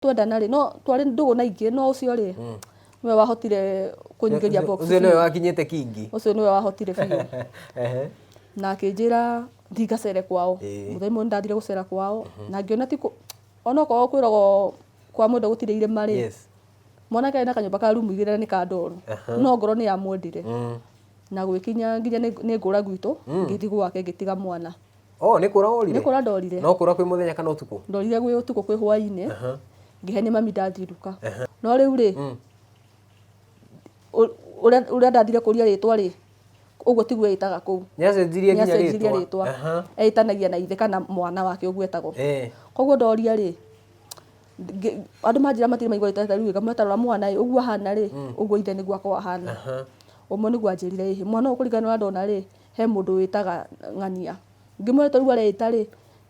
twendana rĩ no twarĩ ndũgũ na ingĩ no ũcio rĩ nĩwe wahotire kũnyingĩria box ũcio nĩwe biũ. wakinyĩte kingi ũcio nĩwe wahotire biũ Ehe. na akĩnjĩra thiĩ ngacere kwao Ĩĩ. mũthenya ũmwe ndathire gũcera kwao na ngĩona ti kũ- ona okorwo kwĩragwo kwa mwenda gũtirĩ irĩma rĩ yes mwanake arĩ na kanyũmba ka rumu igĩrĩ na nĩ ka ndoru Aha. no ngoro nĩ yamwendire Mm. na gwĩkinya nginya nĩ nĩ ngũra gwitũ ngĩthiĩ gwake ngĩtiga mwana Oh, nĩ kũra worire? Nĩ kũra ndorire. No kũra kwĩ mũthenya kana ũtukũ? Ndorire gwĩ ũtukũ kwĩ hwainĩ. Aha. Ngĩhe nĩ mami ndathirũka. Aha. No rĩu rĩ, mm. ũrĩa ndathire kũria rĩtwa rĩ, ũguo tiguo ĩtaga kũu. Nĩacenjirie nginya rĩtwa. rĩtwa. Aha. Etanagia na ithe kana mwana wake ũguo etagwo. Eh. Koguo ndoria rĩ, andå manjä matirä maigua ta rä u gametarora mwana ä å guo ahana rä mm. å guo ithe nä guo akorwo ahana å mwe nä guo anjä rire ä mwana å kå ringana na ndona rä he mũndũ wĩtaga ng'ania ngĩmwĩra ta rĩu areĩta rĩ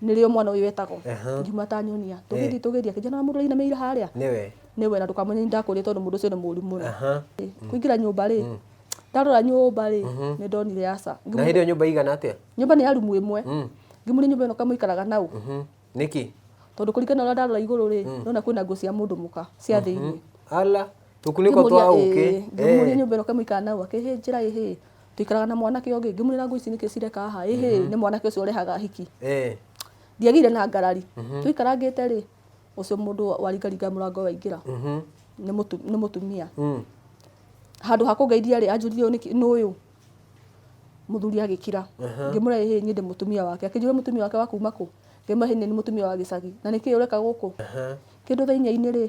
nĩrĩo mwana ũyũ etagwo Aha. ngiuma ta nyonia tũgĩthiĩ tũgĩthiĩ akĩnjĩra na mũndũ ũrainamĩire harĩa nĩwe nĩwe na ndũkamenya nĩ ndakũria tondũ mũndũ ũcio nĩ mũũru mũno aha Ĩ, kũingĩra nyũmba rĩ ndarora nyũmba rĩ nĩ ndonire aca na hĩndĩ ĩyo nyũmba igana atĩa nyũmba nĩ ya rumu ĩmwe ngĩmũria nyũmba ĩno kamũikaraga nau Mhm. nĩkĩ tondũ kũringana na ũrĩa ndarora igũrũ rĩ ndona kwĩna nguo cia mũndũ mũka cia thĩinĩ ala tũkunĩko twa ũkĩ ngĩmũria nyũmba ĩno kamũikaraga nau akĩhĩnjĩra ĩhĩ Tũikaraga na mwanake ũngĩ ngĩmwĩra ngũĩ ici nĩkĩ cireka haha ĩ hĩ nĩ mwanake ũcio ũrehaga ahiki. Ĩĩ. Ndiagĩire na ngarari. Twaikarangĩte rĩ, ũcio mũndũ waringaringaga mũrango waingĩra nĩ nĩ mũtumia. Handũ ha kũngeithia rĩ, anjũria ũyũ nĩkĩ nũũ ũyũ? Mũthuri agĩkira. Ngĩmwĩra ĩ hĩ niĩ ndĩ mũtumia wake. Akĩnjũria mũtumia wake wa kuuma kũ? Ngĩmwĩra ĩ hĩ niĩ nĩ mũtumia wa gĩcagi. Na nĩkĩ ũreka gũkũ? Kĩndũ thainia-inĩ rĩ,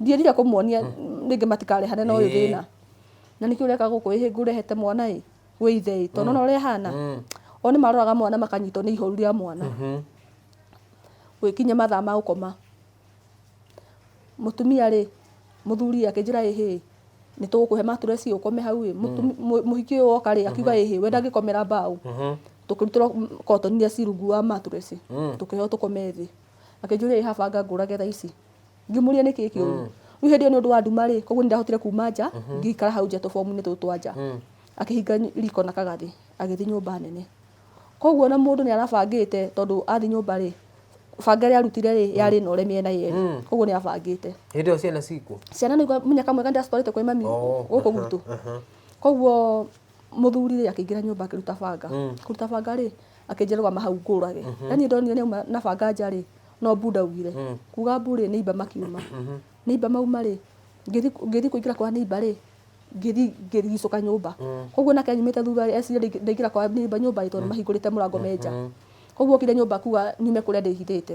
Ndierire kũmuonia rĩngĩ matikarehane na ũyũ Ĩĩ. thĩna. Na nĩkĩo ũreka gũkũ ĩhĩ ngũrehete mwana ĩ wĩ ithe ĩ tondũ ũrona ũrĩa ahana. O nĩ maroraga mwana makanyitwo nĩ ihoru rĩa mwana. Gũgĩkinya mathaa ma gũkoma, mũtumia rĩ, mũthuri ĩ akĩnjĩra ĩ hĩ, nĩ tũgũkũhe mattress ĩ ũkome hau ĩ. Mũtumi- mũ- Mũhiki ũyũ woka rĩ akiuga ĩ hĩ we ndangĩkomera mbaũ. Tũkĩrutĩrwo cotton iria ci rungu wa mattress, tũkĩheo tũkome thĩ. akĩnjũria ĩ haba anga ngũrage thaa ici ngĩmũria nĩ kĩĩ kĩũru rĩu hĩndĩ ĩyo nĩ ũndũ wa nduma rĩ koguo nĩ ndahotire kuma nja ngĩikara hau nja tũbomu-inĩ tũtũ twa nja akĩhinga ny- riko na kagathĩ agĩthiĩ nyũmba nene koguo na mũndũ nĩ arabangĩte tondũ athiĩ nyũmba rĩ banga ĩrĩa arutire rĩ yarĩ na ũre mĩena yerĩ koguo nĩ abangĩte hĩndĩ ĩyo ciana cikuo ciana nĩigua mũnyaka mwega nĩ ndĩracitwarĩte kwĩ mami Oh, gũkũ gwitũ koguo mũthuri rĩ akĩingĩra nyũmba akĩruta banga kũruta banga rĩ akĩnjĩra rũgama hau ngũrage yani ndonire nĩ auma na banga nja rĩ no mbu ndaugire kuga mbu rĩ nĩ imba makiuma nĩ imba mauma rĩ ngĩthi- ngĩthi kũingĩra kwa nĩ imba rĩ ngĩthi ngĩrigicũka nyũmba koguo nake anyumĩte thutha rĩ ecirĩria ndaingĩ- ndaingĩra kwa nĩ imba nyũmba rĩ tondũ mahingũrĩte mũrango me nja koguo okire nyũmba kuga nyume kũrĩa ndĩhithĩte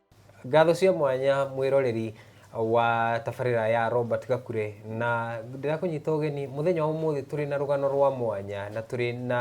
Ngatho cia mwanya mwĩroreri wa tabarĩra ya Robert Gakure na ndĩrakũnyita ũgeni mũthenya wa ũmũthĩ tũrĩ na rũgano rwa mwanya na tũrĩ na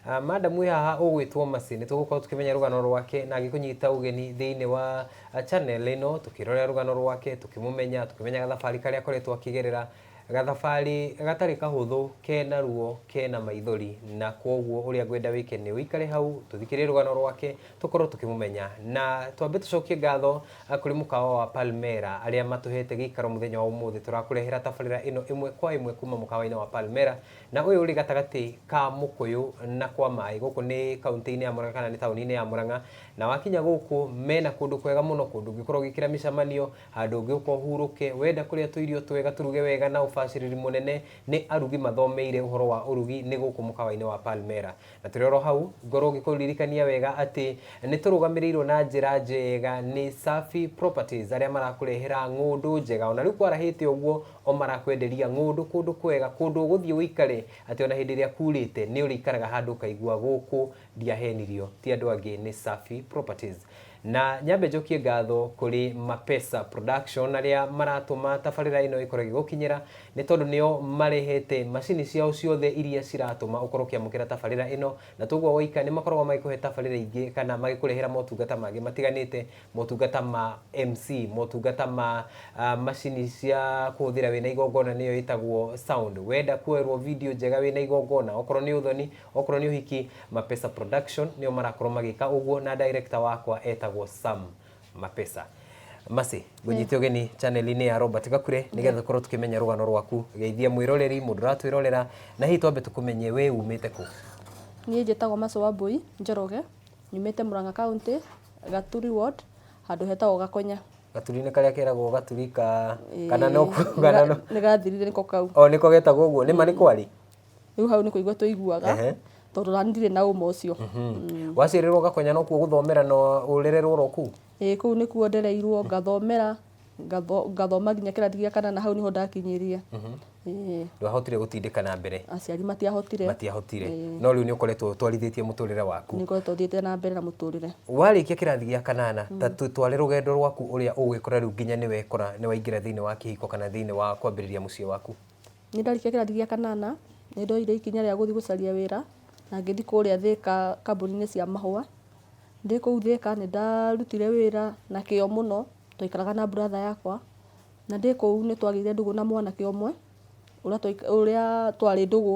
uh, madam wĩ haha ũgwĩtwo Mercy nĩ tũgũkorwo tũkĩmenya rũgano rwake na agĩkũnyita ũgeni thĩinĩ wa uh, channel ĩno tũkĩrorera rũgano rwake tũkĩmũmenya tũkĩmenyaga thabarĩ karĩa akoretwo akĩgerera Gathabarĩ gatarĩ kahũthũ, kena ruo, kena maithori, na kwoguo ũrĩa ngwenda wĩke nĩ ũikare hau, tũthikĩrĩrie rũgano rwake, tũkorwo tũkĩmũmenya. Na twambe tũcokie ngatho kũrĩ mũkawa wa Palmera arĩa matũhete gĩikaro mũthenya wa ũmũthĩ. Tũrakũrehera tabarĩra ĩno ĩmwe kwa ĩmwe kuma mũkawa-inĩ wa Palmera, na ũyũ ũrĩ gatagatĩ ka Mũkũyũ na kwa maĩ. Gũkũ nĩ kauntĩ-inĩ ya Mũrang'a kana nĩ taũni-inĩ ya Mũrang'a, na wakinya gũkũ mena kũndũ kwega mũno, kũndũ ũngĩkorwo ũgĩkĩra mĩcamanio, Handũ ũgĩũka ũhurũke, wenda kũrĩa tũirio twega tũruge wega na ũbacĩrĩri mũnene nĩ arugi mathomeire ũhoro wa ũrugi nĩ gũkũ mũkawa-inĩ wa Palmera. Na tũrĩ oro hau, ngorwo ngĩkũririkania wega atĩ nĩ tũrũgamĩrĩirwo na njĩra njega nĩ Safi Properties arĩa marakũrehera ng'ũndũ njega. Ona rĩu kwarahĩte ũguo, o marakwenderia ng'ũndũ kũndũ kwega, kũndũ ũgũthiĩ ũikare atĩ ona hĩndĩ ĩrĩa kuurĩte nĩ ũrĩikaraga handũ ũkaigua gũkũ ndiahenirio, ti andũ angĩ nĩ Safi Properties. Na nyambe njokie ngatho kũrĩ Mapesa Production arĩa maratũma tabarĩra ĩno ĩkorwo ĩgĩgũkinyĩra nĩ tondũ nĩo marehete macini ciao ciothe iria ciratũma ũkorwo ũkĩamũkĩra tabarĩra ĩno na to ũguo gwaika nĩ makoragwo magĩkũhe tabarĩra ingĩ kana magĩkũrehera motungata mangĩ matiganĩte, motungata ma MC, motungata ma macini cia kũhũthĩra wĩna igongona nĩyo ĩtagwo sound. Wenda kuoerwo video njega wĩna igongona okorwo nĩ ũthoni Okorwo nĩ ũhiki, Mapesa Production nĩo marakorwo magĩka ũguo na director wakwa etagwo Sam Mapesa. Mercy, ngũnyite ũgeni channel-inĩ ya Robert Gakure nĩgetha tũkorwo tũkĩmenya rũgano rwaku. Geithia mwĩroreri, mũndũ ũratwĩrorera na hihi twambe tũkũmenye wee umĩte kũ? Niĩ njĩtagwo Mercy Wambũi Njoroge, nyumĩte Mũrang'a County, Gaturi Ward, handũ hetagwo Gakonya. Gaturi nĩ karĩa keragwo gaturi ka kana no Ĩĩ, kuga nĩ ga- nĩ gathirire nĩko kau. o nĩko getagwo ũguo, nĩma nĩ kwarĩ? rä u hau nä kå igua tå iguaga Ehe. tondå nani ndirä na å ma å cio waciarĩrwo gakonya no kuo gũthomera na ũrererwo ro kuu ä kå u nä kuo ndereirwo ngathomera ngatho- ngathoma nginya kä rathi gä a kana na hau nä ho ndakinyä Ĩĩ, ndwahotire gũtindĩka na mbere aciari matiahotire matiahotire Ĩĩ. no rĩu nĩ ũkoretwo ũtwarithĩtie mũtũrĩre waku nä ngoretwo thiä te na mbere na må tå rä re warĩkia kĩrathi gĩa kanana ta tũtware rũgendo rwaku ũrĩa ũgwĩkora rĩu nginya nĩ wekora nĩ waingĩra thĩinĩ wa kĩhiko kana thĩinĩ wa kwambĩrĩria mũciĩ waku Nĩ ndarĩkia kĩrathi gĩa kanana, nĩ ndoire ikinya rĩa gũthiĩ gũcaria wĩra, na ngĩthiĩ kũrĩa Thĩka kambuni-inĩ cia mahũa. Ndĩ kũu Thĩka nĩ ndarutire wĩra na kĩo mũno, twaikaraga na brother yakwa. Na ndĩ kũu nĩ twagĩire ndũgũ na mwanake ũmwe, ũrĩa twarĩ ndũgũ,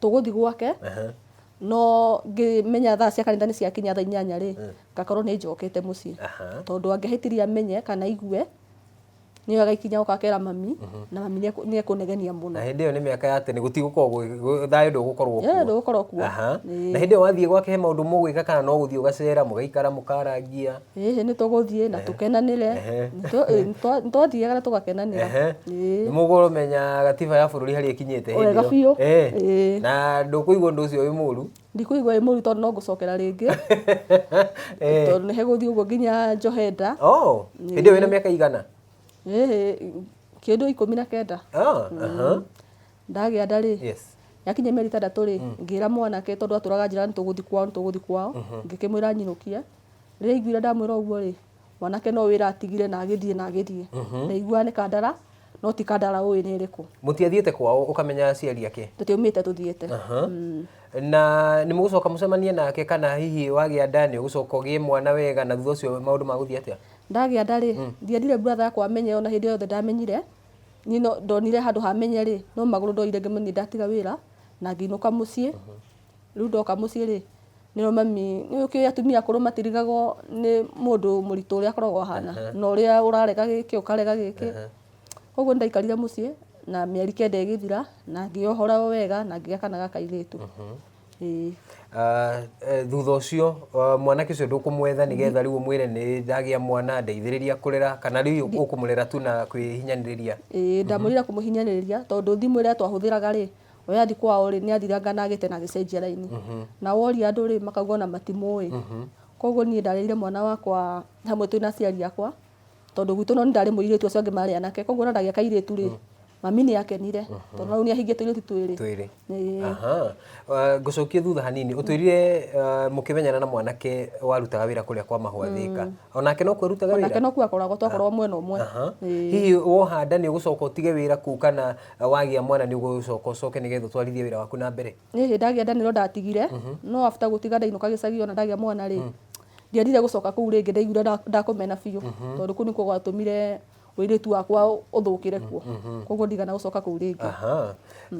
tũgũthiĩ gwake Ehe. no ngĩmenya thaa cia kanitha nĩ ciakinya thaa inyanya rĩ ngakorwo nĩ njokete mũciĩ Aha. tondũ angĩahĩtirie amenye kana aigue nĩ oyaga ikinya oka akera mami na mami nĩ ekũ- nĩ ekũnegenia mũno na hĩndĩ ĩyo nĩ mĩaka ya tene gũtigũkorwo gwĩ- gwĩ- thayũ ndũgũkorwo Yeah, kuo. ndũgũkorwo kuo. Aha. Ĩĩ. na hĩndĩ ĩyo wathiĩ gwake he maũndũ mũgwĩka kana no gũthiĩ ũgacera mũgaikara mũkarangia Ĩhĩ nĩ tũgũthiĩ na tũkenanĩre. Ehe. Nĩ tũ- ĩ, nĩ twa- nĩ twathiaga na tũgakenanĩra. Ehe. Ĩĩ. Nĩ mũkũmenya gatiba ya bũrũri harĩa ĩkinyĩte hĩndĩ Wega ĩyo. biũ. Eh. Ĩĩ. Na ndũkũigua ũndũ ũcio wĩ mũru. Ndikũigua ĩ mũru tondũ no ngũcokera rĩngĩ. Eh. Tondũ nĩ hegũthiĩ ũguo nginya Njohenda. Oh, hĩndĩ ĩyo wĩna mĩaka igana? Ĩhĩ, kĩndũ ikũmi na kenda. Ah, aha. Ndagĩa nda rĩ, Yes. yakinya mĩeri ĩtandatũ rĩ, ngĩra mwanake tondũ atũraga njĩra nĩ tũgũthiĩ kwao, nĩ tũgũthiĩ kwao. Ngĩkĩmwĩra nyinũkie. Rĩrĩa aiguire ndamwĩra ũguo rĩ, mwanake no wĩra atigire na agĩthiĩ na agĩthiĩ. Mhm. Ndaiguaga nĩ Kandara, no ti Kandara ũĩ nĩ ĩrĩkũ. Mũtiathiĩte kwao ũkamenya aciari ake? Tũtiaumĩte tũthiĩte. Aha. Mm. Na nĩ mũgũcoka mũcemanie nake kana hihi wagĩa nda nĩ ũgũcoka ũgĩe mwana wega na thutha ũcio maũndũ magũthiĩ atĩa? Ndagĩa nda rĩ, Mm. ndiendire brother yakwa amenye ona hĩndĩ o yothe ndamenyire. Niĩ no ndonire handũ ha menye rĩ, no magũrũ ndoire ngĩmũthiĩ ndatiga wĩra na ngĩinũka mũciĩ. Rĩu ndoka mũciĩ rĩ, Nĩ ũĩ mami, nĩ ũkĩũĩ atumia akũrũ matirigagwo nĩ mũndũ mũritũ ũrĩa akoragwo ahana, na ũrĩa ũrarega gĩkĩ ũkarega gĩkĩ. Koguo nĩ ndaikarire mũciĩ, na mĩeri kenda ĩgĩthira, na ngĩohora o wega na ngĩgĩa kana ga kairĩtu. Ĩĩ. Ah, eh, thutha ũcio ah, mwanake ũcio ndũkũmwetha nĩgetha rĩu ũmwĩre nĩ ndagĩa mwana ndeithĩrĩria kũrera kana rĩu ũkũmũrera tu na kwĩhinyanĩrĩria Ĩĩ, ndamwĩrire kũmũhinyanĩrĩria, tondũ thimũ ĩrĩa twahũthĩraga rĩ, Ũrĩa athiĩ kwao rĩ, nĩ athirangana agĩte na agĩcenjia raini. Na woria andũ rĩ, makauga ona matimũĩ. Koguo niĩ ndarĩrire mwana wakwa hamwe twĩna aciari akwa, tondũ gwitũ no niĩ ndarĩ mũirĩtu acio angĩ marĩ anake. Koguo ona ndagĩa kairĩtu rĩ, mami nĩ akenire, tondũ ona rĩu nĩ ahingĩtie tũirĩtu twĩrĩ. Twĩrĩ. Ĩĩ. Aha. Ah, Ngũcokie thutha hanini. Ũtwĩrire ah, mũkĩmenyana na mwanake warutaga wĩra kũrĩa kwa mahũa Thĩka. Onake no kuo arutaga wĩra? Nake no kuo akoragwo twakoragwo mwena ũmwe. Aha. Ĩĩ. Hihi woha nda nĩ ũgũcoka ũtige wĩra kũu kana wagĩa mwana nĩ ũgũcoka ũcoke nĩgetha ũtwarithie wĩra waku na mbere niä hä ndagä a nda nä ro ndatigire no afta gå tiga ndainå ka gä cagi ona ndagä a mwana rä ndiendire gå coka kå u rä ngä ndaiguire nda- ndakåmena biå tondå kå u nä kuo gwatå mire wä rä tu wakwa å thå kä re kuo koguo ndigana gå coka kå u rä ngä Aha.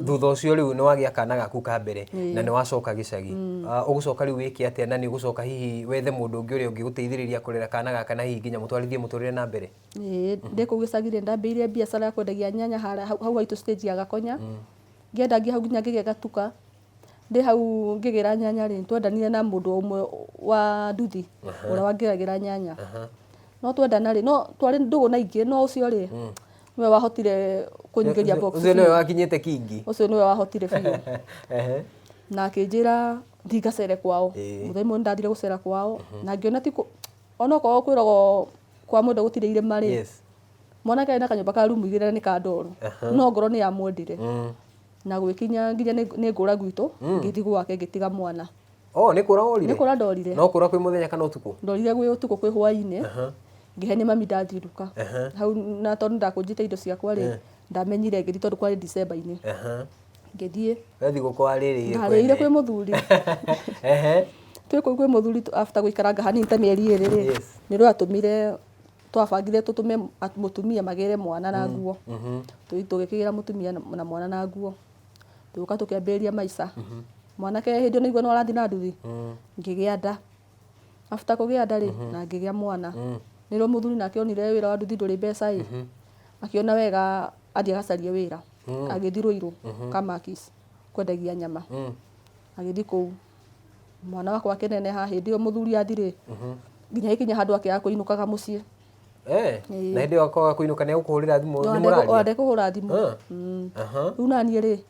thutha ũcio rĩu nĩ wagĩa kana gaku ka mbere na nĩ wacoka gĩcagi Ah, ũgũcoka rĩu wĩke atĩa na nĩ ũgũcoka hihi wethe mũndũ ũngĩ ũrĩa ũngĩgũteithĩrĩria kũrera kana gaka na hihi nginya mũtwarithie mũtũrĩre na mbere Ĩĩ, ndĩ kũu gĩcagi rĩ ndambĩire mbiacara ya kwendagia nyanya hara hau hau haitũ stage ya gakonya ngĩenda ngĩ hau nginya ngĩgĩa gatuka ndĩ hau ngĩgĩra nyanya rĩ nĩtwendanire na mũndũ ũmwe wa nduthi ũrĩa wangĩragĩra nyanya no twendana rĩ no twarĩ ndũgũ na ingĩ no ũcio rĩ nĩwe wahotire kũnyingĩria box ũcio nĩwe biũ. wakinyĩte kingi ũcio nĩwe wahotire biũ Ehe. na akĩnjĩra thiĩ ngacere kwao Ĩĩ. mũthenya ũmwe nĩndathire gũcera kwao na ngĩona ti kũ- onokorwo kwĩragwo kwa mwendwa gũtirĩ irĩma rĩ yes mwanake arĩ na kanyũmba ka rumu igĩrĩ na nĩ ka ndoro Aha. no ngoro nĩ yamwendire mm. na gwĩkinya nginya nĩ nĩ ngũra gwitũ ngĩthiĩ gwake ngĩtiga mwana oh nĩ kũra worire nĩ kũra ndorire no kũra kwĩ mũthenya kana ũtukũ ndorire gwĩ ũtukũ kwĩ hwainĩ Aha. ngĩhe nĩ mami ndathiruka Aha. hau na tondũ ndakũnjĩte indo ciakwa rĩ ndamenyire ngĩthiĩ tondũ kwarĩ December-inĩ Aha. ngĩthiĩ Wethi gũkũ warĩrĩire ndarĩire kwĩ mũthuri Ehe. twĩ kũu kwĩ mũthuri tu- after gũikaranga hanini ta mĩeri ĩrĩ rĩ Yes. nĩrwo atũmire twabangire tũtũme at- mũtumia magĩre mwana na nguo Mhm. Tũi- tũgĩkĩgĩra mũtumia na- na mwana na nguo tũgĩũka tũkĩambĩrĩria maica mwanake hĩndĩ ĩyo naigua nĩ warathiĩ na nduthi Mm. ngĩgĩa nda after kũgĩa nda rĩ na ngĩgĩa mwana nĩ rĩo mũthuri nake onire wĩra wa nduthi ndũrĩ mbeca ĩ akĩona wega athiĩ agacarie wĩra agĩthiĩ rũirũ kamakis kwendagia nyama agĩthiĩ kũu mwana wakwa akĩneneha hĩndĩ ĩyo mũthuri athirĩ nginya gĩkinya handũ akĩaga kũinũkaga mũciĩ Eh, Ĩĩ. na hĩndĩ ĩyo akoga kũinũka nĩ egũkũhũrĩra thimũ nĩ mũraria ndekũhũra thimũ Ah. Mm. Aha. rĩu naniĩ rĩ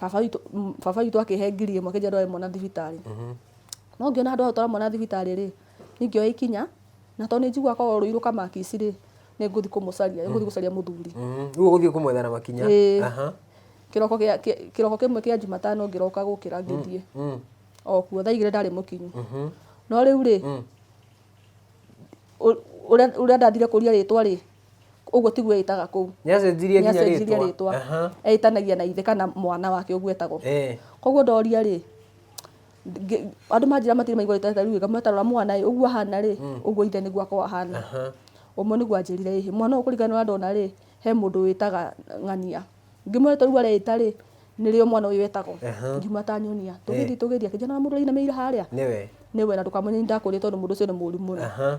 baba witũ m- baba witũ akĩhe ngiri ĩmwe kĩnjia ndware mwana thibitarĩ no ngĩona handũ ha gũtwara mwana thibitarĩ rĩ ningĩoya ikinya na tondũ nĩnjigua akorwo rũi rũkamakici rĩ nĩngũthi kũmũcaria nĩngũthi gũcaria mũthuri Mhm. Rĩu ũgũthiĩ kũmwetha na makinya Ĩĩ. Aha. kĩroko gĩa- kĩ- kĩroko kĩmwe kĩa jumatano ngĩroka gũkĩra ngĩthiĩ Mm. o kuo thaa igĩrĩ ndarĩ mũkinyu Mhm. no rĩu rĩ Mm. ũ- ũrĩa ũrĩa ndathire kũria rĩtwa rĩ ũguo tiguo ĩtaga kũu nĩacenjirie nginya nĩacenjirie rĩtwa rĩtwa Aha. etanagia na ithe kana mwana wake ũguo etagwo Eh. koguo ndoria rĩ ngĩ- andũ manjĩra matirĩ maigua rĩtwa rĩu ĩga mwetarora mwana ĩ ũguo ahana rĩ ũguo ithe nĩguo akwa ahana Aha. ũmwe nĩguo anjĩrire ĩhĩ mwana ũyũ kũringana na ũrĩa ndona rĩ he mũndũ wĩtaga ng'ania ngĩmwĩra rĩtwa rĩu areĩta rĩ nĩrĩo mwana ũyũ etagwo Aha. ngiuma atanyonia tũgĩthiĩ tũgĩthiĩ akĩnjana mũndũ ũrainamĩire harĩa nĩwe nĩwe na ndũkamũnye nĩ ndakũrĩa tondũ mũndũ ũcio nĩ mũũru mũno Aha.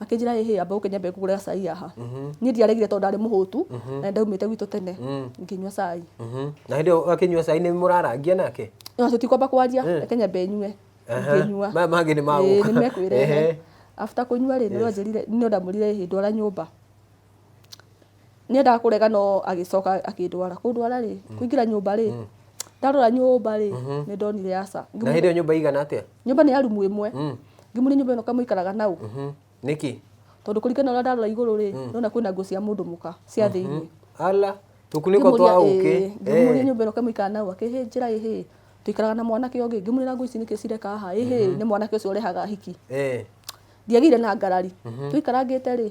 akĩnjĩra ĩ hĩ amba ũke nyambe ngũgũre gacai haha niĩ ndiaregire tondũ ndarĩ mũhũtu na ndaumĩte gwitũ tene ngĩnyua cai Mhm. na hĩndĩ ĩyo akĩnyua cai nĩ mũrarangia nake no tũtikwamba kwaria reke nyambe nyue Aha. ngĩnyua Maya mangĩ nĩ magũka. Ĩĩ, nĩmekwĩrehe Ehe. after kũnyua rĩ nĩrĩo anjĩrire nĩrĩo ndamwĩrire ĩ hĩ ndwara nyũmba nĩendaga kũrega no agĩcoka akĩndwara kũndwara rĩ kũingĩra nyũmba rĩ ndarora nyũmba rĩ nĩ ndonire aca na hĩndĩ ĩyo nyũmba igana atĩa nyũmba nĩ ya rumu ĩmwe ngĩmũria nyũmba ĩno kamũikaraga nau Mhm. nĩkĩ tondũ kũringana na ũrĩa ndarora igũrũ rĩ nona kwĩna nguo cia mũndũ mũka cia thĩinĩ ala tũkunĩko twa ũkĩ ngĩmũria nyũmba ĩno kamũikara nau akĩhĩnjĩra ĩhĩ tũikaraga na mwanake ũngĩ ngĩmwĩra nguo ici nĩkĩ cireka haha ĩhĩ nĩ mwanake ũcio ũrehaga hiki Eh. ndiagĩire na ngarari tũikarangĩte rĩ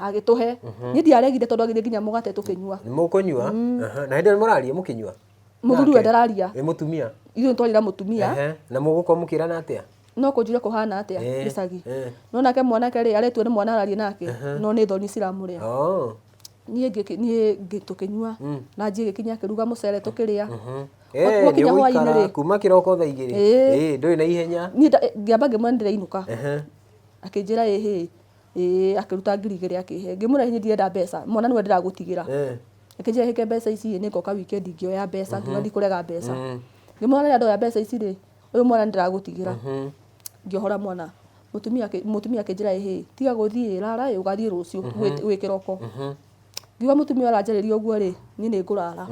agĩtũhe niĩ ndiaregire tondũ agithĩ nginya mũgate tũkĩnyua nĩ mũkũnyua Aha. na hĩndĩ ĩyo mũraria mũkĩnyua mũthuri we ndararia ĩ mũtumia ithuĩ nĩtwarĩra mũtumia Ehe. na mũgũkorwo mũkĩrana atĩa no kũnjire kũhana atĩa Eh, gĩcagi eh. no nake mwanake rĩ aretua nĩ mwana ararie nake no nĩ thoni ciramũrĩa Oh. niĩ ngĩki- niĩ ngĩ- tũkĩnyua na njiĩ gĩkinya akĩruga mũcere tũkĩrĩa Eh, Wa- wakinya nĩ hwainĩ ũgũikara rĩ kuma kĩroko thaa igĩrĩ Ĩĩ. Ĩĩ, ndũrĩ na ihenya niĩ nda- ngĩamba ngĩmwendera inũka Ehe. akĩnjĩra ĩhĩ Ĩĩ, akĩruta ngiri igĩrĩ akĩhe. Ngĩmwĩra hihi ndirenda mbeca, mwana nĩwe ndĩragũtigĩra. Ĩĩ. Akĩnjĩra hĩke mbeca ici ĩĩ nĩngoka wikendi ngĩoya mbeca, ngiuga ndikũrega mbeca. Ngĩmwĩra rĩrĩa ndoya mbeca ici rĩ, ũyũ mwana nĩndĩragũtigĩra. Ngĩohora mwana. Mũtumia mũtumia akĩnjĩra ĩ hĩ, tiga gũthiĩ, rara ĩ, ũgathiĩ rũciũ gwĩ gwĩ kĩroko. Ngiuga mũtumia ũyũ aranjarĩria ũguo rĩ, niĩ nĩngũrara.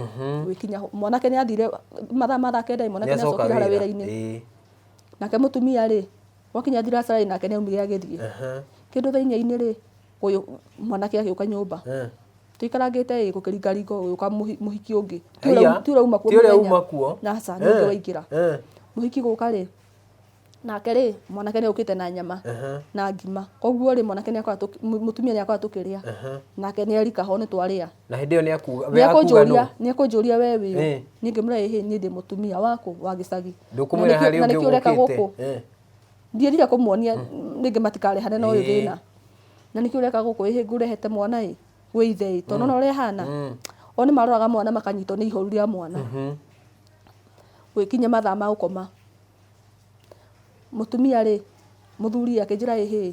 Gũgĩkinya hwa mwanake nĩathire mathaa ma thaa kenda ĩ, mwanake nĩacokire harĩa wĩra-inĩ. Nake mũtumia rĩ, Gwakinya thiracaraĩ nake nĩaumire agĩthiĩ. Kĩndũ thainyainĩ rĩ, ũyũ mwanake agĩũka nyũmba. Tũikarangĩte ĩ gũkĩringaringa gũgĩũka mũhiki ũngĩ. Ti ũrĩa ti ũrĩa uma kuo mũthenya. Ti ũrĩa uma kuo. Aca nĩ ũngĩ waingĩra. Mũhiki gũka rĩ, nake rĩ, mwanake nĩokĩte na nyama na ngima. Koguo rĩ, mwanake nĩakora mũtumia nĩakora tũkĩrĩa. Nake nĩerika ho nĩtwarĩa. na hĩndĩ ĩyo nĩ akuga we akuga nĩekũnjũria nũ nĩekũnjũria we wĩ ũ Eh. niĩ ngĩmwĩra ĩ hĩ niĩ ndĩ mũtumia wakũ wa gĩcagi Ndũkũmwĩra Na nĩkĩo- harĩ na ũngĩ nĩkĩo ũreka ũgũkĩte. gũkũ Eh. ndierire kũmuonia rĩngĩ matikarehane na ũyũ Ĩĩ. thĩna na nĩkĩo ũreka gũkũ ĩhĩ ngũrehete mwana ĩ wĩ ithe ĩ tondũ ona ũrĩa hana Mm. o nĩ maroraga mwana makanyitwo nĩ ihoru rĩa mwana Mhm. gwĩkinya mathaa ma gũkoma mũtumia rĩ mũthuri akĩnjĩra ĩhĩ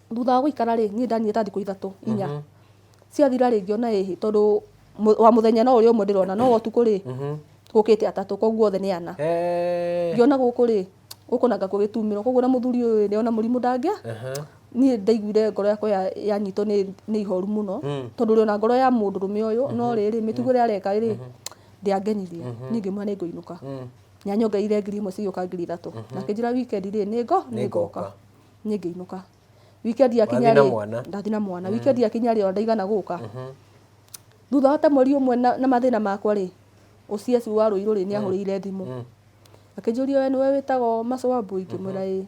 Thutha wa gũikara rĩ, niĩ ndanire ta thikũ ithatũ inya. Mhm. Ciathira rĩ, ngĩona ĩhĩ, tondũ mũ- wa mũthenya no ũrĩa ũmwe ndĩrona, no wa ũtukũ rĩ, Mhm. gũkĩte atatũ, koguo othe nĩ ana. Eh. Ngĩona gũkũ rĩ, gũkũ nanga gũgĩtumĩrwo, koguo na mũthuri ũyũ nĩ ona mũrimũ ndangĩa, Aha. niĩ ndaiguire ngoro yakwa ya- yanyitwo nĩ nĩ ihoru mũno, Mm. tondũ ũrĩ ona ngoro ya mũndũrũme ũyũ, no rĩrĩ, mĩtugo ĩrĩa areka rĩ, ndĩangenirie. Niĩ ngĩmwĩra nĩ ngũinũka. Mm. Nĩ anyongereire ngiri imwe cigĩũka ngiri ithatũ. Na akĩnjĩra weekend rĩ, nĩ ngo, nĩ ngoka. Nĩngoka. niĩ ngĩinũka weekend yakinya Wathi na rĩ mwana? ndathi na mwana weekend yakinya rĩ ona ndaigana gũka thutha wa ta mweri ũmwe na na mathĩna makwa rĩ OCS wa Rũirũ rĩ nĩahũrĩire thimũ akĩnjũria we nĩwe wĩtagwo Mac Wambui ngĩmwĩra ĩĩ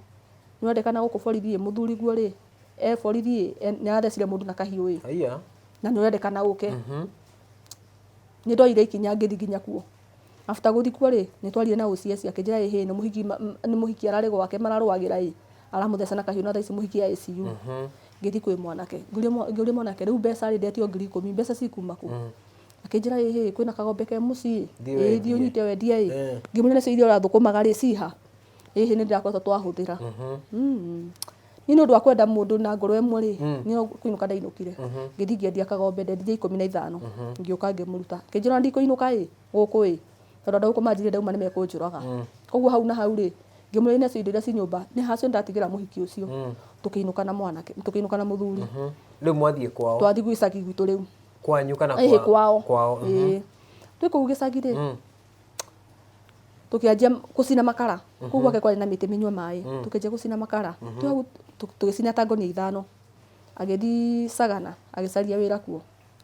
nĩwendekana gũkũ borithi ĩĩ mũthuri guo rĩ e borithi ĩĩ e- nĩarathecire mũndũ na kahiũ ĩĩ Haiya. na nĩwendekana ũke nĩndoire ikinya ngĩthi nginya kuo After gũthikwo rĩ, nĩtwarire na ũũ CS akĩnjĩra ĩ hĩ nĩ mũhiki nĩ mũhiki ararĩ gwake mararũagĩra ĩ, aramũtheca na kahiũ na thaa ici mũhiki e ICU. Ngĩthiĩ kwĩ mwanake, ngĩũria mwa ngĩũria mwanake rĩu mbeca rĩ ndetio ngiri ikũmi mbeca cikuma kũ? Akĩnjĩra ĩ hĩ kwĩna kagombe ke mũciĩ ĩ thiĩ ũnyite wendie ĩ, ngĩmũria nacio iria ũrathũkũmaga rĩ ci ha? hihi nĩ ndĩrakoretwo twahũthĩra Mm. niĩ nĩ ũndũ wa kwenda mũndũ na ngoro ĩmwe rĩ nĩ kũinũka ndainũkire ngĩthiĩ ngĩendia kagombe ndendirie ikũmi na ithano ngĩũka ngĩmũruta kĩnjĩra ona ndikũinũka ĩ gũkũ ĩ tondũ andũ a gũkũ manjirire ndauma nĩ mekũnjũraga koguo hau na hau rĩ ngĩmwĩra ine indo iria ci nyũmba nĩ ha cio ndatigĩra mũhiki ũcio tũkĩinũka na mwanake tũkĩinũka na mũthuri rĩu mwathiĩ kwao twathiĩ gwĩcagi gwitũ rĩu kwanyu kana ĩhĩ kwa- kwao kwao mhm. Ĩĩ. twĩ kũu gĩcagi rĩ tũkĩanjia gũcina makara kũu mhm. gwake kwarĩ na mĩtĩ mĩnyua maĩ mhm. tũkĩanjia gũcina makara mhm. tũgĩcina ta ngonia ithano agĩthiĩ sagana agĩcaria wĩra kuo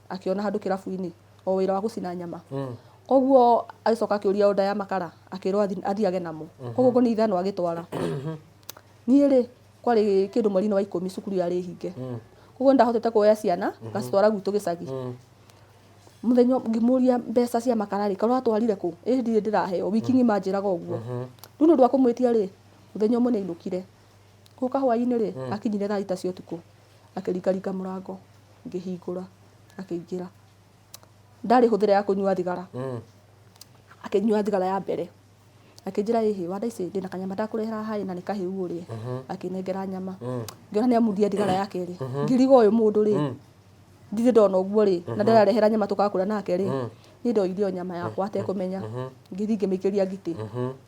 akĩona handũ kĩrabu-inĩ o wĩra wa gũcina nyama mm. koguo agĩcoka akĩũria oda ya makara akĩrwo athiage namo koguo ngonia ithano agĩtwara niĩ rĩ kwarĩ kĩndũ mweri-inĩ wa ikũmi cukuru yarĩ hinge mm. koguo ndahotete kuoya ciana ngacitwara gwitũ gĩcagi mm. mũthenya ũmwe ngĩmũria mbeca cia makara rĩ korwo atwarire kũ ĩ ndirĩ ndĩraheo wiki ng'ima anjĩraga ũguo rĩu nĩ ũndũ wa kũmwĩtia rĩ mũthenya ũmwe nĩ ainũkire gũka hwainĩ rĩ akinyire thaa thita cia ũtukũ akĩringaringa mũrango ngĩhingũra akĩingĩra ndarĩ hũthĩra ya kũnyua thigara akĩnyua thigara ya mbere akĩnjĩra ĩhĩ wanda ici ndĩna kanyama ndakũrehera haha na nĩ kahĩu ũrĩe akĩnengera nyama ngĩona nĩ amuthia ndigara ya kerĩ ngĩriga ũyũ mũndũ rĩ ndirĩ ndona ũguo rĩ na ndararehera nyama tũgakũra nake rĩ niĩ ndoire ĩyo nyama yakwa atekũmenya ngĩthiĩ ngĩmĩikĩria ngitĩ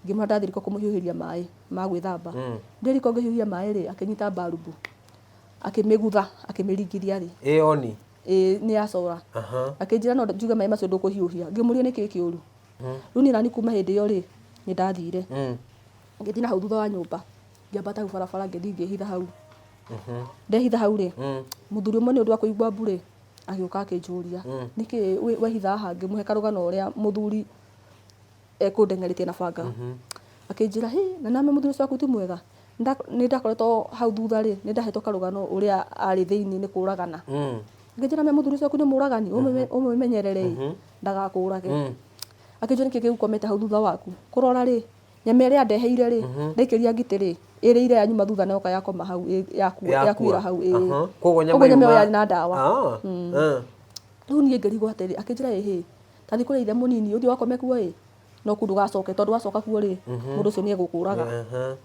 ngĩmwĩra ndathiĩ riko kũmũhiũhĩria maĩ ma gwĩthamba ndĩ riko ngĩhiũhia maĩ rĩ akĩnyita mbarubu akĩmĩgutha akĩmĩringithia rĩ ĩ oni ĩĩ nĩ ya cora Aha. akĩnjĩra no njuge maĩ macio ndũkũhiũhia ngĩmũria nĩkĩ kĩũru rĩu niĩ nani kuma hĩndĩ ĩyo rĩ nĩ ndathire ngĩthiĩ na hau thutha wa nyũmba ngĩambata hau barabara ngĩthiĩ ngĩhitha hau ndehitha hau rĩ mũthuri ũmwe nĩ ũndũ wa kũigua mbu rĩ agĩũka akĩnjũria nĩkĩ wĩ- wehitha haha ngĩmũhe karũgano ũrĩa mũthuri ekũndengerĩtie na banga akĩnjĩra hi na name mũthuri ũcio waku ti mwega Nĩnda- nĩ ndakoretwo hau thutha rĩ nĩ ndahetwo karũgano ũrĩa arĩ thĩinĩ nĩ kũragana ngĩnjĩra me mũthuri ũcio waku nĩ mũragani ũmũmenyerere ndagakũũrage Mm. akĩnjũria nĩkĩ gĩgũkomete hau thutha waku kũrora rĩ nyama ĩrĩa ndeheire rĩ ndaikĩria ngitĩ rĩ ĩrĩire ya nyuma thutha na yoka yakoma hau ĩ- yaku- Yakua. yakuĩra hau ĩ. Aha. Koguo nyama Ũguo nyama ĩyo yuma- yarĩ na ndawa Ah, ah. rĩu niĩ ngĩrigwo atĩrĩ akĩnjĩra ĩ hĩ tathi kũrĩa ithe mũnini ũthiĩ wakome kuo ĩ no kuu ndũgacoke tondũ wacoka kuo rĩ mũndũ ũcio nĩ egũkũũraga Aha.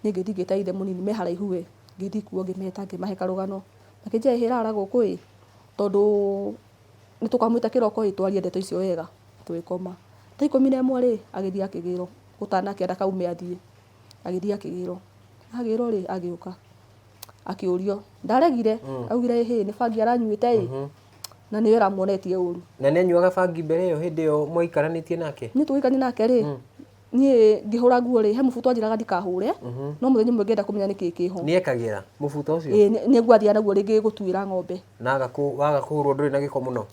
niä ngä thiä ngä ta ithe må nini me haraihu we ngä thiä kuo ngä meta ngä mahe karå gano makänjä hä rara gå kå ä tondå Nĩ tũkamwĩta kĩroko ĩ twarie ndeto icio wega tũgĩkoma. Thaa ikũmi na ĩmwe rĩ, agĩthiĩ akĩgĩrwo gũtanakĩa ndakaume athiĩ. Agĩthiĩ akĩgĩrwo. Agĩrwo rĩ, agĩũka akĩũrio. Ndaregire, augire ĩhĩ nĩ bangi aranyuĩte ĩ, na nĩwe ũramuonetie ũru. Na nĩ anyuaga bangi mbere ĩyo hĩndĩ ĩyo mwaikaranĩtie nake? Niĩ tũgĩikarania nake rĩ, niĩ ngĩhũra nguo rĩ he mũbuto twanjĩraga ndikahũre no mũthenya ũmwe ngĩenda kũmenya nĩkĩ kĩho nĩ ekagĩra mũbuto ũcio ĩĩ nĩ- nĩguo athiaga naguo rĩngĩ gũtuĩra ng'ombe na agakũ- waga kũhũrwo ndũrĩ na gĩko mũno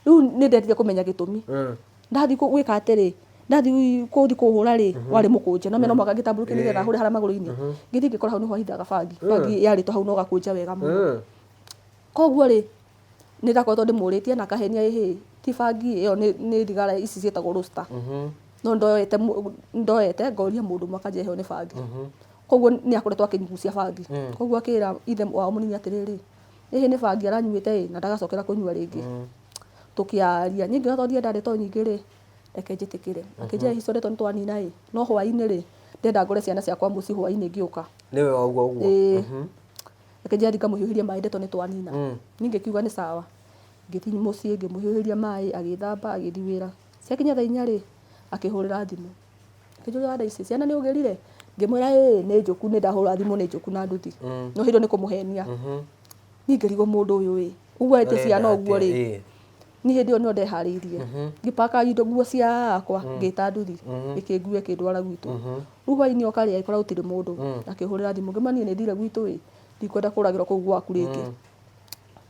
rĩu nĩ ndendire kũmenya gĩtũmi Mm. ndathiĩ kũ- gwĩka atĩrĩ ndathiĩ kũthi kũhũra rĩ warĩ mũkũnja no mena mwaka ngĩtambũrũkia nĩgetha hũre harĩa magũrũ-inĩ ngĩthiĩ ngĩkora hau nĩho ahithaga bangi bangi yarĩtwo hau no gakũnja wega mũno Mm. koguo rĩ Nĩ ndakoretwo ndĩmũrĩtie na akahenia ĩ hĩĩ ti bangi ĩyo nĩ nĩ thigara ici ciĩtagwo roaster. No ndoete mũ- ndoete ngoria mũndũ ũmwe akanjĩra ĩyo nĩ bangi. Koguo nĩ akoretwo akĩnyugucia bangi. Koguo akĩra ithe wao mũnini atĩrĩrĩ, ĩ hĩĩ nĩ bangi aranyuĩte ĩ na ndagacokera kũnyua rĩngĩ. Tũkĩaria. Niĩ ngĩona to ndiendage ndeto nyingĩ rĩ, reke njĩtĩkĩre. Akĩnjĩra ĩ hihi tondũ nĩ twanina ĩ, no hwaĩ-inĩ rĩ, ndĩrenda ngore ciana ciakwa mũciĩ hwaĩ-inĩ ngĩũka. Nĩwe wauga ũguo? Ĩĩ. reke njĩra ngamũhiũhĩria maĩ ndeto nĩ twanina mm. niĩ ngĩkiuga nĩ sawa ngĩthiĩ mũciĩ ngĩmũhiũhĩria maĩ agĩthamba agĩthiĩ wĩra ciakinya thaa inya rĩ akĩhũrĩra thimũ akĩnjũria wada ici ciana nĩ ũgĩrire ngĩmwĩra ĩ nĩ njũku nĩ ndahũra thimũ nĩ njũku na nduthi mm. no hĩndĩ nĩ kũmũhenia mm-hmm. niĩ ngĩrigwo mũndũ ũyũ ĩ uguo ete ciana ũguo rĩ niĩ hĩndĩ ĩyo nĩyo ndeharĩirie ngĩpaka indo nguo ciakwa ngĩta nduthi ĩkĩngue ĩkĩndwara gwitũ rĩu hwainĩ oka rĩ agĩkora gũtirĩ mũndũ akĩhũrĩra thimũ ngĩma niĩ nĩ thire gwitũ ĩ ndikwenda kũragĩrwo kũu gwaku rĩngĩ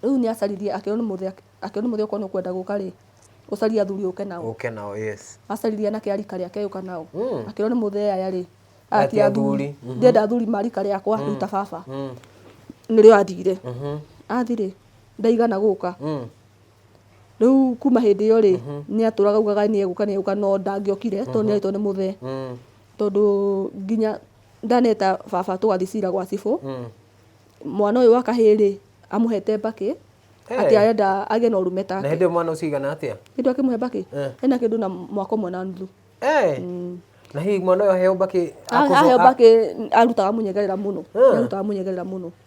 rĩu nĩ acaririe akĩrwo nĩ mũthĩ akĩrwo nĩ mũthĩ okorwo nĩ ũkwenda gũka rĩ ũcarie athuri ũke nao ũke nao yes acaririe anake a rika rĩake agĩũka nao akĩrwo nĩ mũthee aya rĩ Ati ati athuri athuri. ndenda athuri ma rika rĩakwa rĩu ta baba nĩrĩo athire athi rĩ ndaigana gũka Rĩu kuma hĩndĩ ĩyo rĩ, nĩ atũraga augaga nĩ egũka nĩ egũka no ndangĩokire tondũ nĩ arĩtwo nĩ mũthee. Tondũ nginya ndaneta baba tũgathiĩ cira gwa cibũ, mwana ũyũ wa kahĩĩ rĩ, amũhete mbakĩ atĩ arenda agĩe na ũrũme Na hĩndĩ take. ĩyo mwana ũcio aigana atĩa? Hĩndĩ ĩyo akĩmũhe mbakĩ, Eh. ena kĩndũ na mwaka ũmwe na nuthu. Eh! Na hihi mwana ũyũ aheo mbakĩ A- akũbũ- Aheo a- mbakĩ arutaga mũnyegerera mũno. Eh. Nĩ arutaga mũnyegerera mũno.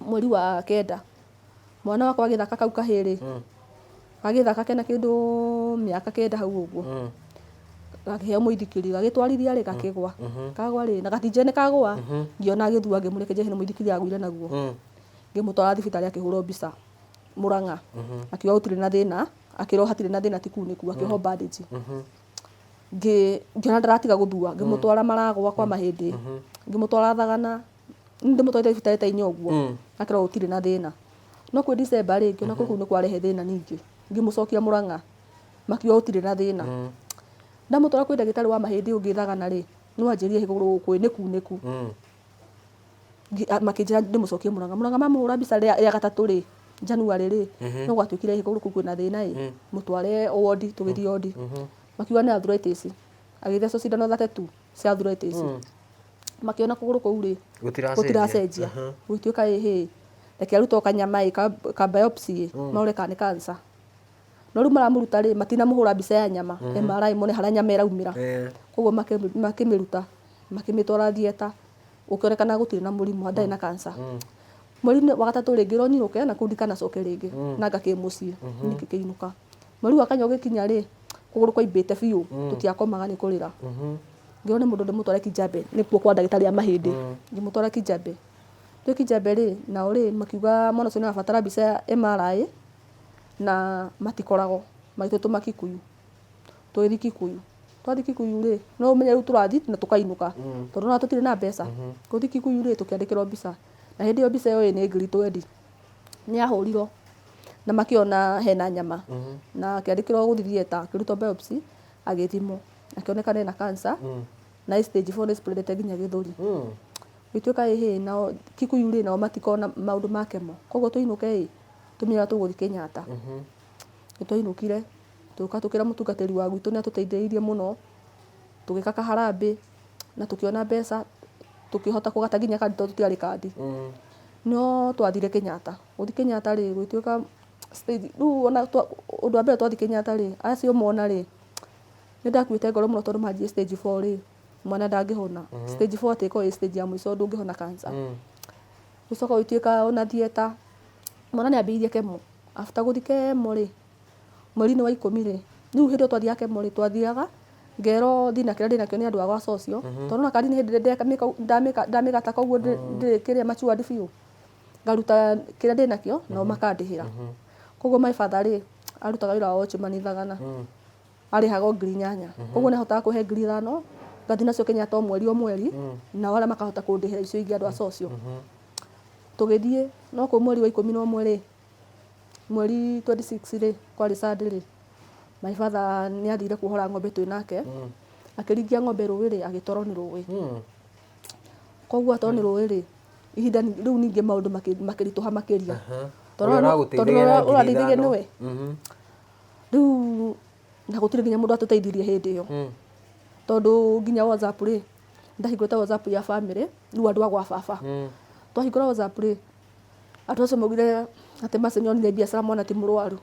mweri wa kenda mwana wakwa agĩthaka kau kahĩĩ rĩ Mm. gagĩthaka kena kĩndũ mĩaka kenda hau ũguo Mm. gakĩheo mũithikiri gagĩtwarithia rĩ gakĩgwa Mhm. kagwa rĩ na gatinjĩre nĩ kagwa Mhm. ngĩona agĩthua ngĩmũreke njehe nĩ mũithikiri agũire naguo Mm. ngĩmũtwara thibitarĩ akĩhũrwo mbica mũrang'a Mhm. akiuga gũtirĩ na thĩna akĩrwo hatirĩ na thĩna ti kunĩku akĩohwo bandage Mhm. ngĩ- ngĩona ndaratiga gũthua ngĩmũtwara maragwa kwa mahĩndĩ ngĩmũtwara thagana nĩ ndĩmũtwarĩte ibitari-inĩ o ũguo Mm. akerwo gũtirĩ na thĩna no kwĩ December rĩngĩ ona kũu nĩ kwarehe thĩna ningĩ ngĩmũcokia Mũrang'a makiuga gũtirĩ na thĩna Mm. ndamũtwara kwĩ ndagĩtarĩ wa mahĩndĩ ũngĩ Thagana rĩ no anjĩrie kũgũrũ kwĩ nĩ kunĩku Mm. Ngi- a- makĩnjĩra ndĩmũcokie Mũrang'a Mũrang'a mamũhũra mbica rĩa rĩa gatatũ rĩ January rĩ no gwatuĩkire ĩ kũgũrũ kũu kwĩna thĩna ĩ mũtware wondi tũgĩthiĩ wondi makiuga nĩ arthritis agĩthecwo cindano thate tu cia arthritis makĩona kũgũrũ kũu rĩ Gũtiracenjia. gũtiracenjia Aha. gũgĩtuĩka ĩ hĩ reke arutwo kanyama ĩ ka, ka biopsy ĩ marore kana nĩ cancer no rĩu maramũruta rĩ matinamũhũra mbica ya nyama MRI mone harĩa nyama ĩraumĩra Eh, koguo makĩ- makĩmĩruta makĩmĩtwara thieta ũkĩonekana gũtirĩ na mũrimũ ndarĩ na kansa mweri-inĩ wa gatatũ rĩngĩ ronirũke na kũu ndikanacoke rĩngĩ na ngakĩ mũciĩ nĩkĩ kĩinũka Mweri wa kanya ũgĩkinya rĩ, kũgũrũ kwaimbĩte biũ, tũtiakomaga nĩ kũrĩra. Ngĩrwo nĩ mũndũ ndĩmũtware Kijambe, nĩkuo kwa ndagĩtarĩ a mahĩndĩ. Ngĩmũtwara Kijambe. Twĩ Kijambe rĩ, nao rĩ, makiuga mwana ũcio nĩ arabatara mbica ya MRI, na matikoragwo. Magĩtũtũma Kikuyu. Tũgĩthiĩ Kikuyu. Twathiĩ Kikuyu rĩ, no ũmenye rĩu tũrathiĩ na tũkainũka. Tondũ ona tũtirĩ na mbeca. Gũthiĩ Kikuyu rĩ, tũkĩandĩkĩrwo mbica. Na hĩndĩ ĩyo mbica ĩyo ĩĩ nĩ ngiri twendi. nĩ ahũrirwo na makĩona hena nyama na akĩandĩkĩrwo gũthiĩ theater akĩrutwo biopsy agĩthimwo akĩoneka ena cancer na ĩ stage 4 nĩ spreadete nginya gĩthũri gĩtuĩka ĩ hĩ nao Kikuyu rĩ nao matikona maũndũ ma kemo koguo tũinũke ĩ tũmenye ũrĩa tũgũthiĩ Kenyatta nĩ twainũkire tũgĩũka tũkĩra mũtungatĩri wa gwitũ nĩ atũteithĩrĩirie mũno tũgĩka ka harambĩ na tũkĩona mbeca tũkĩhota kũgata nginya kandi tondũ tũtiarĩ kandi no twathire Kenyatta gũthiĩ Kenyatta rĩ gwĩtuĩka stage rĩu ona twa- ũndũ wa mbere twathi Kenyatta rĩ acio mona rĩ nĩ ndakuĩte ngoro mũno tondũ manjie stage four rĩ mwana ndangĩhona stage four atĩ ĩkorwo ĩ stage ya mũico ndũngĩhona cancer gũcoka gũgĩtuĩka ona theater mwana nĩ ambĩrĩirie kemo after gũthiĩ kemo rĩ Mweri-inĩ wa ikũmi rĩ, rĩu hĩndĩ ĩyo twathiaga Kemo rĩ, twathiaga ngerwo thina kĩrĩa ndĩnakĩo nĩ andũ a gwa Socio. Tondũ ũrona kandi nĩ hĩndĩ ĩrĩa ndamĩka ũguo- ndamĩka- ndamĩgata kau ũguo ndĩ- ndĩrĩ kĩrĩa matured biũ, ngaruta kĩrĩa ndĩnakĩo nao makandĩhĩra. Koguo my father rĩ, arutaga wĩra wa watchman Thagana. Arĩhaga o ngiri inyanya. Koguo nĩ ahotaga kũhe ngiri ithano, ngathi nacio Kenyatta o mweri o mweri, nao arĩa makahota kũndĩhĩra icio ingĩ andũ a Socio. Tũgĩthiĩ, no kũu mweri wa ikũmi na ũmwe rĩ, Mweri twenty six rĩ, kwarĩ Sunday rĩ, my father nĩ athire kuohora ng'ombe twĩ nake, akĩringia ng'ombe rũĩ rĩ, agĩtwarwo nĩ rũĩ. Koguo atwarwo nĩ rũĩ rĩ, ihinda ni- rĩu ningĩ maũndũ makĩ- makĩritũha makĩria. Tondũ Ũrĩa ũrĩa- ũragũteithagia tondũ ũrĩa na ngiri ũrandeithagia ithano. nĩwe. Rĩu na gũtirĩ nginya mũndũ watũteithirie hĩndĩ ĩyo. Tondũ nginya WhatsApp rĩ, nĩ ndahingũrĩte WhatsApp ya bamĩrĩ, rĩu andũ a gwa baba. Twahingũra WhatsApp rĩ, Andũ acio maugire atĩ Mercy nĩonire biacara mwana ti mũrwaru.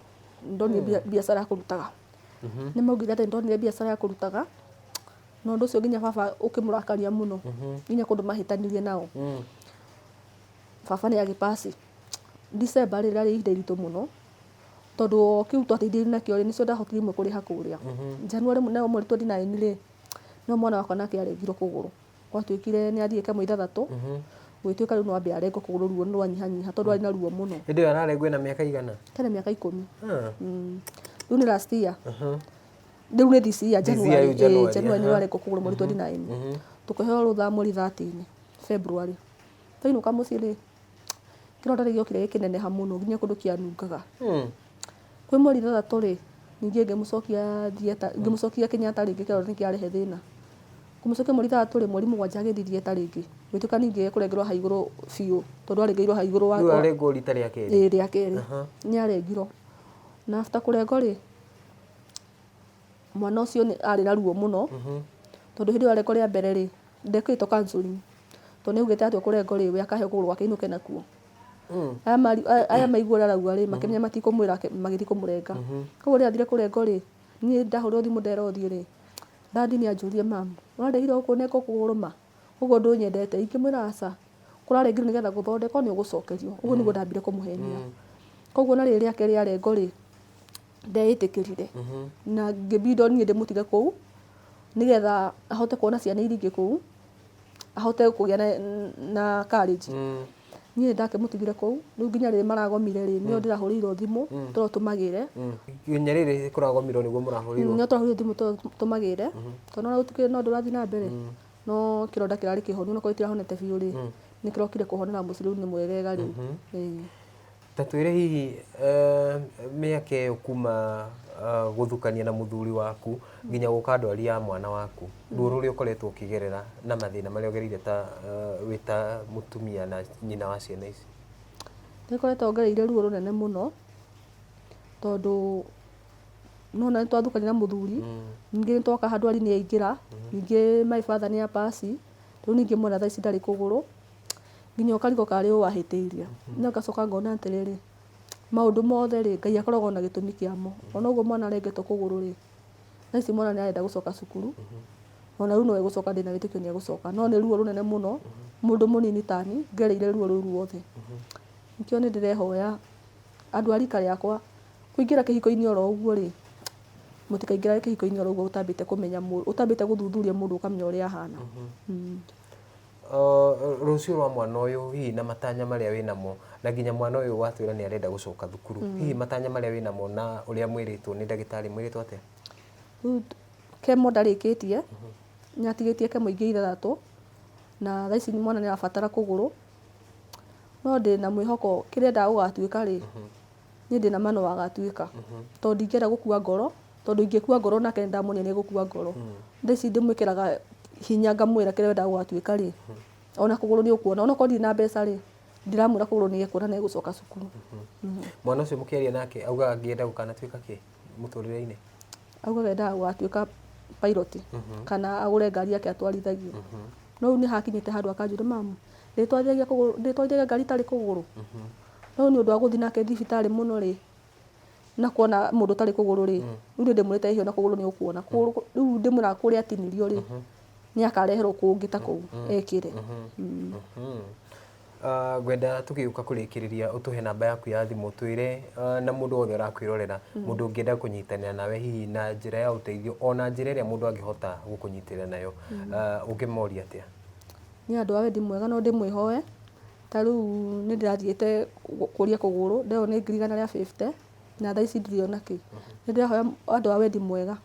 Ndonire bia- biacara ya kũrutaga. Nĩmaugire atĩ ndonire biacara ya kũrutaga, na ũndũ ũcio nginya baba ũkĩmũrakaria mũno. Nginya kũndũ mahĩtanirie nao. Baba nĩagĩ pass. December rĩ, rĩarĩ ihinda iritũ mũno, tondũ o kĩu twateithĩrĩirio nakĩo rĩ, nĩkĩo ndahotire imwe kũrĩha kũrĩa. January nayo mweri twenty nine rĩ, nĩyo mwana wakwa nake arendirwo kũgũrũ. gwatuĩkire nĩ athiĩ kamũira ithathatũ gũgĩtuĩka rĩu no ambe arengwo kũgũrũ ruo nĩ rwanyihanyiha tondũ arĩ na ruo mũno hĩndĩ ĩyo ararengwo ena mĩaka igana tena mĩaka ikũmi Ah, Mm. rĩu nĩ last year aha. rĩu nĩ this year This year January yu January, eh, January nĩ aha. warengwo kũgũrũ mweri 29 tũkĩheo rũtha mweri 30 February twainũka mũciĩ rĩ kĩronda rĩu gĩokire gĩkĩneneha mũno nginya kũndũ kĩanungaga hmm. kwĩ mweri ithathatũ rĩ ningĩ ngĩmũcokia thieta ngĩmũcokia Kenyatta rĩngĩ kĩronda nĩ kĩarehe thĩna kũmũcokia mweri ithathatũ rĩ mweri mũgwanja agĩthiĩ thieta rĩngĩ gwĩtuĩka ningĩ ekũrengerwo ha igũrũ biũ tondũ arengĩirwo ha igũrũ warengwo rita rĩa kerĩ ĩĩ rĩa kerĩ nĩ arengirwo na after kũrengwo rĩ mwana ũcio arĩ na ruo mũno mhm. tondũ hĩndĩ ĩyo arengwo rĩa mbere rĩ Ndekĩrĩtwo counseling. Tondũ nĩaugĩte atua kũrenga ũrĩrĩ we akahe kũgũrũ gwake ainũke nakuo. Aya mari- aya- aya maigua ũrĩa arauga rĩ, makĩmenya matikũmwĩra ake- magĩthiĩ kũmũrenga. Koguo rĩrĩa athire kũrengwo rĩ, niĩ ndahũrĩrwo thimũ ndera ũthiũ rĩ, dad nĩanjũririe mum, ũrarĩgire kũnenga kũgũrũ ma? Ũguo ndũnyendete? Ingĩmwĩra aca. Kũrarengire nĩgetha gũthondekwo nĩ ũgũcokerio. Ũguo nĩguo ndambire kũmũhenia. Koguo ona rĩrĩ rĩake rĩarengwo rĩ. ndeĩtĩkĩrire na ngĩbindwo niĩ ndĩmũtige kũu nĩgetha ahote kuona ciana iria ingĩ kũu ahote kũgĩa na, na courage niĩ nĩ ndakĩmũtigire kũu rĩu nginya rĩrĩ maragomire rĩ nĩo ndĩrahũrĩirwo thimũ tondũ tũmagĩre nginya rĩrĩ kũragomirwo nĩguo mũrahũrĩirwo nĩo tũrahũrĩirwo thimũ tondũ tũmagĩre tondũ ona gũtikĩrĩ na ũndũ ũrathiĩ na mbere no kĩronda kĩrarĩ kĩhonu ona korwo itirahonete biũ rĩ nĩ kĩrokire kũhonera mũciĩ rĩu nĩ mwegega rĩu Ĩĩ. Ta twĩre hihi mĩaka ĩyo kuma gũthukania na mũthuri waku nginya gũka andũ aria a mwana waku, ruo rũrĩa ũkoretwo ũkĩgerera na mathĩna marĩa ũgereire ta wĩ ta mũtumia na nyina wa ciana ici? Nĩ ngoretwo ngereire ruo rũnene mũno, tondũ nĩ wona nĩ twathukania na mũthuri, ningĩ nĩ twoka handwari nĩ aingĩra, ningĩ my father nĩ a pass, rĩu ningĩ mwana thaa ici ndarĩ kũgũrũ. nginya ũkarigwo kana nĩ ũ wahĩtĩirie. No ngacoka ngona atĩrĩrĩ, maũndũ mothe rĩ, Ngai akoragwo na gĩtũmi kĩamo. O na ũguo mwana arengetwo kũgũrũ rĩ, thaa ici mwana nĩ arenda gũcoka cukuru, o na rĩu no egũcoka ndĩna wĩtĩkio nĩ egũcoka. No nĩ ruo rũnene mũno, mũndũ mũnini ta niĩ ngereire ruo rũu ruothe. Nĩkĩo niĩ ndĩrehoya andũ a rika rĩakwa, kũingĩra kĩhiko-inĩ o ro ũguo rĩ, mũtikaingĩrage kĩhiko-inĩ o ro ũguo ũtambĩte kũmenya mũndũ, ũtambĩte gũthuthuria mũndũ ũkamenya ũrĩa ahana. Rũciũ rwa mwana ũyũ hihi na matanya marĩa wĩ namo, na nginya mwana ũyũ watwĩra nĩ arenda gũcoka thukuru, hihi matanya marĩa wĩ namo na ũrĩa mwĩrĩtwo nĩ ndagĩtarĩ mwĩrĩtwo atĩa? Rĩu kemo ndarĩkĩtie, nĩ atigĩtie kemo ingĩ ithathatũ, na thaa ici mwana nĩ arabatara kũgũrũ, no ndĩna mwĩhoko kĩrĩa endaga gũgatuĩka rĩ, niĩ ndĩna ma no agatuĩka tondũ ndingĩenda gũkua ngoro tondũ ingĩkua ngoro nake nĩ ndamwonire nĩ gũkua ngoro thaa ici ndĩmwĩkĩraga hinya ngamwĩra kĩrĩa wendaga gũgatuĩka rĩ ona kũgũrũ nĩ ũkuona ona okorwo ndirĩ na mbeca rĩ ndiramwĩra kũgũrũ nĩ ekuona na egũcoka cukuru mwana ũcio mũkĩaria nake augaga angĩenda gũkanatuĩka kĩ mũtũrĩre-inĩ augaga endaga gũgatuĩka pilot kana agũre ngari yake atwarithagie no rĩu nĩ hakinyĩte handũ akanjũria mamu ndĩtwarithagia kũgũrũ- ndĩtwarithagia ngari itarĩ kũgũrũ No rĩu nĩ ũndũ wa gũthiĩ nake thibitarĩ mũno rĩ, na kuona mũndũ ũtarĩ kũgũrũ rĩ, rĩu nĩ ndĩmwĩrĩte ehe ona kũgũrũ nĩ ũkuona. Kũgũrũ kũ- Rĩu ndĩmwĩraga kũrĩa atinirio rĩ, nĩ akareherwo kũngĩ ta kũu ekĩre. Mm. Mhm. Ah, ngwenda tũgĩũka kũrĩkĩrĩria ũtũhe namba yaku ya thimũ twĩre ah, na mũndũ wothe ũrakwĩrorera mũndũ ũngĩenda kũnyitanĩra nawe hihi na njĩra ya ũteithio ona njĩra ĩrĩa mũndũ angĩhota gũkũnyitĩrĩra nayo Ah, ũngĩmoria atĩa Niĩ andũ a wendi mwega no ndĩmwĩhoe, Ta rĩu nĩ ndĩrathiĩte gũkũria kũgũrũ, ndĩrerwo nĩ ngiri igana rĩa fifty, na thaa ici ndirĩ ona kĩ. Nĩ ndĩrahoya andũ a wendi mwega,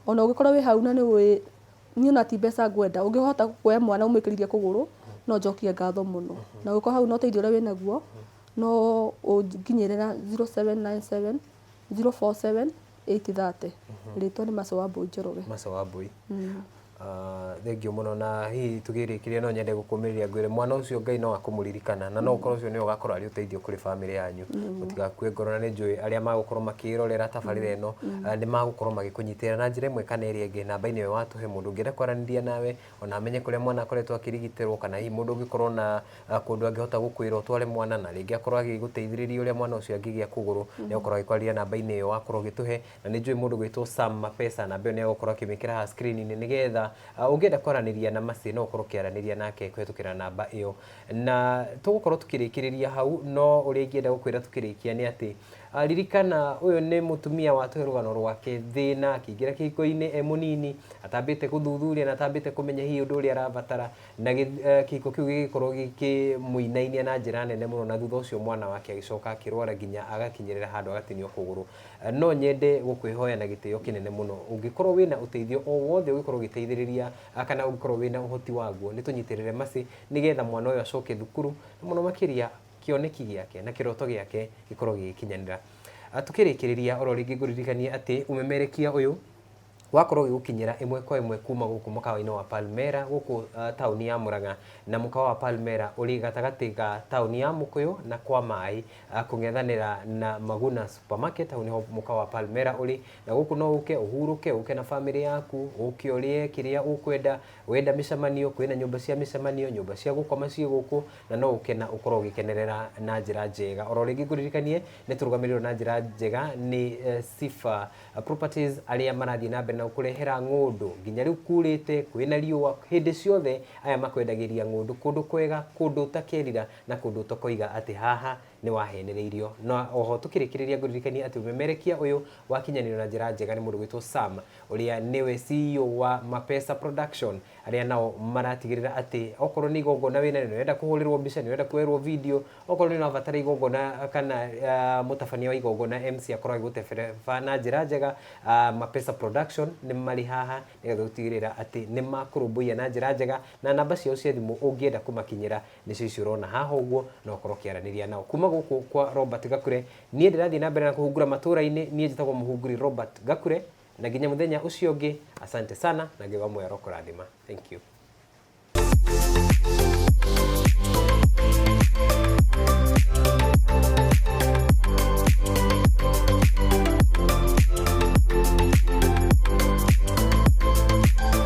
ona ũngĩkorwo wĩ hau na nĩ ũĩ, niĩ ona ti mbeca ngwenda, ũngĩhota kuoya mwana ũmũĩkĩrithie kũgũrũ, no njokie ngatho mũno. Na ũngĩkorwo hau na ũteithio ũrĩa wĩnaguo, no ũnginyĩre na zero seven nine seven, zero four seven. 8:30 rĩtwa nĩ Mac Wambũi Njoroge. Mac Wambũi. Ah, thengiũ mũno na hihi tũgĩrĩkĩria no nyende gũkũmĩrĩria ngwĩre mwana ũcio ngai no akũmũririkana na no ũkorwo ũcio nĩwe ũgakorwo arĩ ũteithio kũrĩ bamĩrĩ yanyu mũtigakue ngoro na nĩ njũĩ arĩa magũkorwo makĩrorera tabarĩra ĩno ah, nĩ magũkorwo magĩkũnyitĩrĩra na njĩra ĩmwe kana ĩrĩa ĩngĩ namba-inĩ ĩyo watũhe mũndũ ũngĩenda kwaranĩria nawe ona amenye kũrĩa mwana akoretwo akĩrigitĩrwo, kana hihi mũndũ ũngĩkorwo na kũndũ angĩhota gũkwĩra ũtware mwana, na rĩngĩ akorwo agĩgũteithĩrĩria ũrĩa mwana ũcio angĩgĩa kũgũrũ, nĩ ũgũkorwo ũgĩkwarĩria namba-inĩ ĩyo wakorwo ũgĩtũhe. Na nĩ njũĩ mũndũ ũgwĩtwo Sam Mapesa, namba ĩyo nĩ egũkorwo akĩmĩkĩra haha screen-inĩ, nĩgetha ũngĩenda kwaranĩria na Mercy no ũkorwo ũkĩaranĩria nake kũhĩtũkĩra namba ĩyo. Na tũgũkorwo tũkĩrĩkĩrĩria hau, no ũrĩa ingĩenda gũkwĩra tũkĩrĩkia nĩ atĩ, Ah, ririkana ũyũ nĩ mũtumia watũhe rũgano rwake thĩna akĩingĩra kĩhiko-inĩ e mũnini atambĩte gũthuthuria na atambĩte kũmenya hihi ũndũ ũrĩa arabatara na gĩ- eh, kĩhiko kĩu gĩgĩkorwo gĩkĩmũinainia na njĩra nene mũno na thutha ũcio mwana wake agĩcoka akĩrwara nginya agakinyĩrĩra handũ agatinio kũgũrũ Eh, no nyende gũkwĩhoya na gĩtĩo kĩnene mũno ũngĩkorwo wĩna ũteithio o wothe ũngĩkorwo ũgĩteithĩrĩria ah, kana ũngĩkorwo wĩna ũhoti waguo nĩ tũnyitĩrĩre macĩ nĩgetha mwana ũyũ acoke thukuru na mũno makĩria kĩoneki gĩake na kĩroto gĩake gĩkorwo gĩgĩkinyanĩra. Tũkĩrĩkĩrĩria oro rĩngĩ ngũririkanie atĩ ũmemerekia ũyũ wakorwo ũgĩgũkinyĩra ĩmwe kwa ĩmwe kuma gũkũ mũkawa-inĩ wa Palmera gũkũ uh, taũni ya Mũrang'a na mũkawa wa Palmera ũrĩ gatagatĩ ga taũni ya Mũkũyũ na kwa maĩ uh, kũng'ethanĩra na Maguna Supermarket hau nĩho mũkawa wa Palmera ũrĩ na gũkũ no ũke ũhurũke ũke na bamĩrĩ yaku ũke ũrĩe kĩrĩa ũkwenda wenda mĩcemanio kwĩna nyũmba cia mĩcemanio nyũmba cia gũkoma ciĩ gũkũ na no gũkena ũkorwo ũgĩkenerera na njĩra njega. Oro rĩngĩ ngũririkanie nĩ tũrũgamĩrĩirwo na njĩra njega nĩ eh, Sifa Properties arĩa marathiĩ na mbere na gũkũrehera ng'ũndũ nginya rĩu kurĩte kwĩna riũa hĩndĩ ciothe aya makwendagĩria ng'ũndũ kũndũ kwega kũndũ ũtakerira na kũndũ ũtakoiga atĩ haha nĩ wahenereirio. Na o ho tũkĩrĩkĩrĩria ngũririkanie atĩ ũmemerekia ũyũ wakinyanĩrio na njĩra njega nĩ mũndũ wĩtwo Sam, ũrĩa nĩwe CEO wa Mapesa Production, arĩa nao maratigĩrĩra atĩ okorwo nĩ igongona wĩ narĩo, nĩ ũrenda kũhũrĩrwo mbica, nĩ ũrenda kuoerwo video, okorwo nĩ ũrabatara igongona kana mũtabania wa igongona MC akorwo agĩgũtebereba na njĩra njega, Mapesa Production nĩ marĩ haha nĩgetha gũtigĩrĩra atĩ nĩ makũrũmbũiya na njĩra njega. Na namba ciao cia thimũ ũngĩenda kũmakinyĩra nĩcio icio ũrona haha ũguo na ũkorwo ũkĩaranĩria nao kuma gũkũ kwa Robert Gakure niĩ ndĩrathiĩ na mbere na kũhungura matũra-inĩ niĩ njĩtagwo mũhunguri Robert Gakure na nginya mũthenya ũcio ũngĩ asante sana na Ngai wa muoyo arokũrathima thank you